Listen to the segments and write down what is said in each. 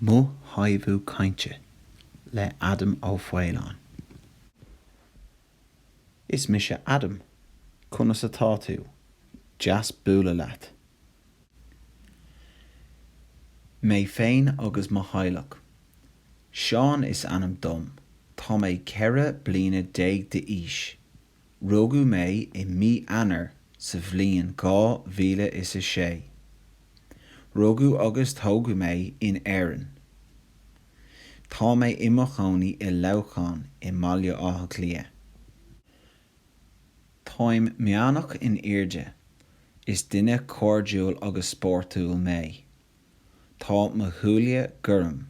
Mo Thaifeadadh Cainte le Adam Ó Faoláin Is mise Adam. Conas atá tú? Deas bualadh leat. Mé féin agus mo theaghlach. Seán is ainm dom. Tá mé ceithre bliana déag d'aois. Rugadh mé i mí Eanáir sa bhliain dhá mhíle is a sé. Rugadh agus tógadh mé in Éirinn. Tá mé i mo chónaí i Leamhcán i mBaile Átha Cliath. Táim meánach in airde. Is duine cairdiúil agus spórtúil mé. Tá mo shúile gorm.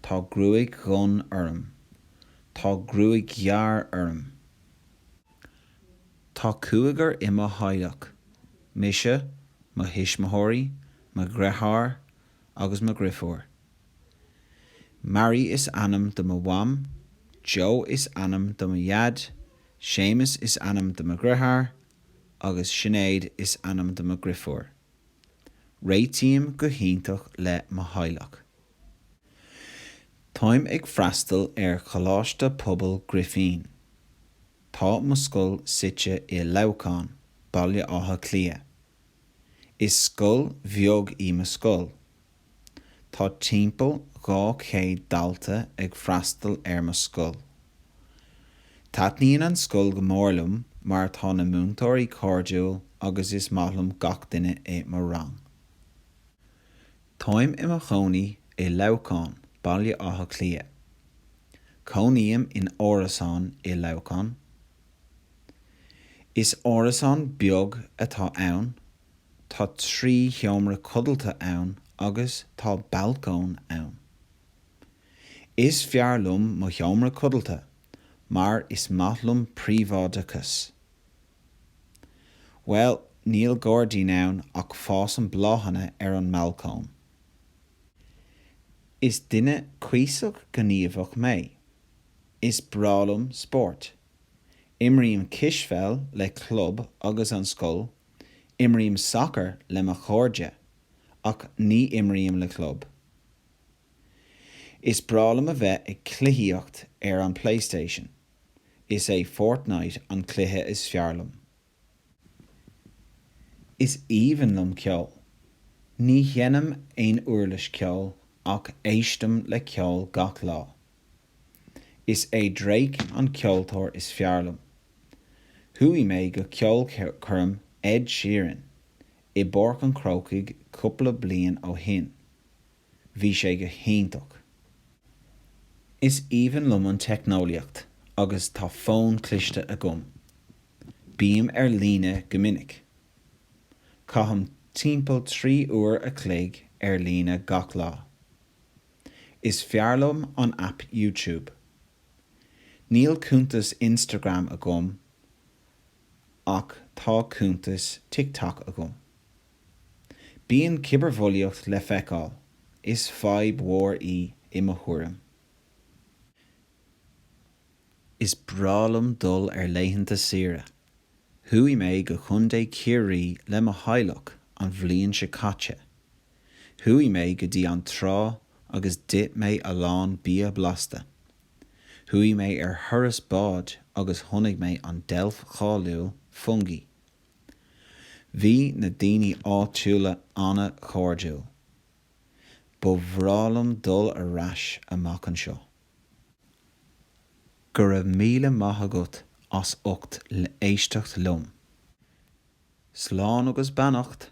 Tá gruaig dhonn orm. Tá gruaig ghearr orm. Tá cúigear i mo theaghlach, mise, mo thuismitheoirí, mo dheartháir agus mo dheirfiúr. Mary is ainm do mo mham, Joe is ainm do mo dhaid, Séamus is ainm do mo dheartháir agus Sinéad is ainm do mo dheirfiúr. Réitím go hiontach le mo theaghlach. Táim ag freastal ar Choláiste Pobail Grifín. Tá mo scoil suite i Leamhcán, Baile Átha Cliath. Is scoil bheag í mo scoil, Tá timpeall 200 dalta ag freastal ar mo scoil. Taitníonn an scoil go mór liom mar tá na múinteoirí cairdiúil agus is maith liom gach duine i mo rang. Táim i mo chónaí i Leamhcán, Baile Átha Cliath. Cónaím in árasán i Leamhcán. Is árasán beag atá ann Tá trí sheomra codlata ann agus tá balcóin ann. Is fearr liom mo sheomra codlata mar is maith liom príobháideachas. Bhuel, níl gairdín ann ach fásann bláthanna ar an mbalcóin. Is duine cuíosach gníomhach mé. Is breá liom spórt. Imrím cispheil le club agus an scoil Imrím sacar le mo chairde, ach ní imrím le club. Is breá liom a bheith ag cluichíocht ar an Playstation. Is é Fortnite an cluiche is fearr liom. Is aoibhinn liom ceol. Ní dheinim aon uirlis ceoil, ach éistim le ceol gach lá. Is é Drake an ceoltóir is fearr liom. Chuaigh mé go ceolchoirm Ed Sheeran i bPáirc an Chrócaigh cúpla bliain ó shin. Bhí sé go hiontach. Is aoibhinn liom an teicneolaíocht agus tá fón cliste agam. Bím ar líne go minic. Caithim timpeall trí uair a chloig ar líne gach lá. Is fearr liom an aip YouTube. Níl cuntas Instagram agam ach tá cuntas TikTok agam. Bíonn cibearbhulaíocht le feiceáil, is fadhb mhór í i mo thuairim. Is breá liom dul ar laethanta saoire. Chuaigh mé go Contae Chiarraí le mo theaghlach an bhliain seo caite. Chuaigh mé go dtí an trá agus d'ith mé a lán bia blasta. Chuaigh mé ar thuras báid agus chonaic mé an deilf cháiliúil Fungie. Bhí na daoine áitiúla an-chairdiúil. Ba bhreá liom dul ar ais amach anseo. Go raibh míle maith agat as ucht éisteacht liom. Slán agus beannacht!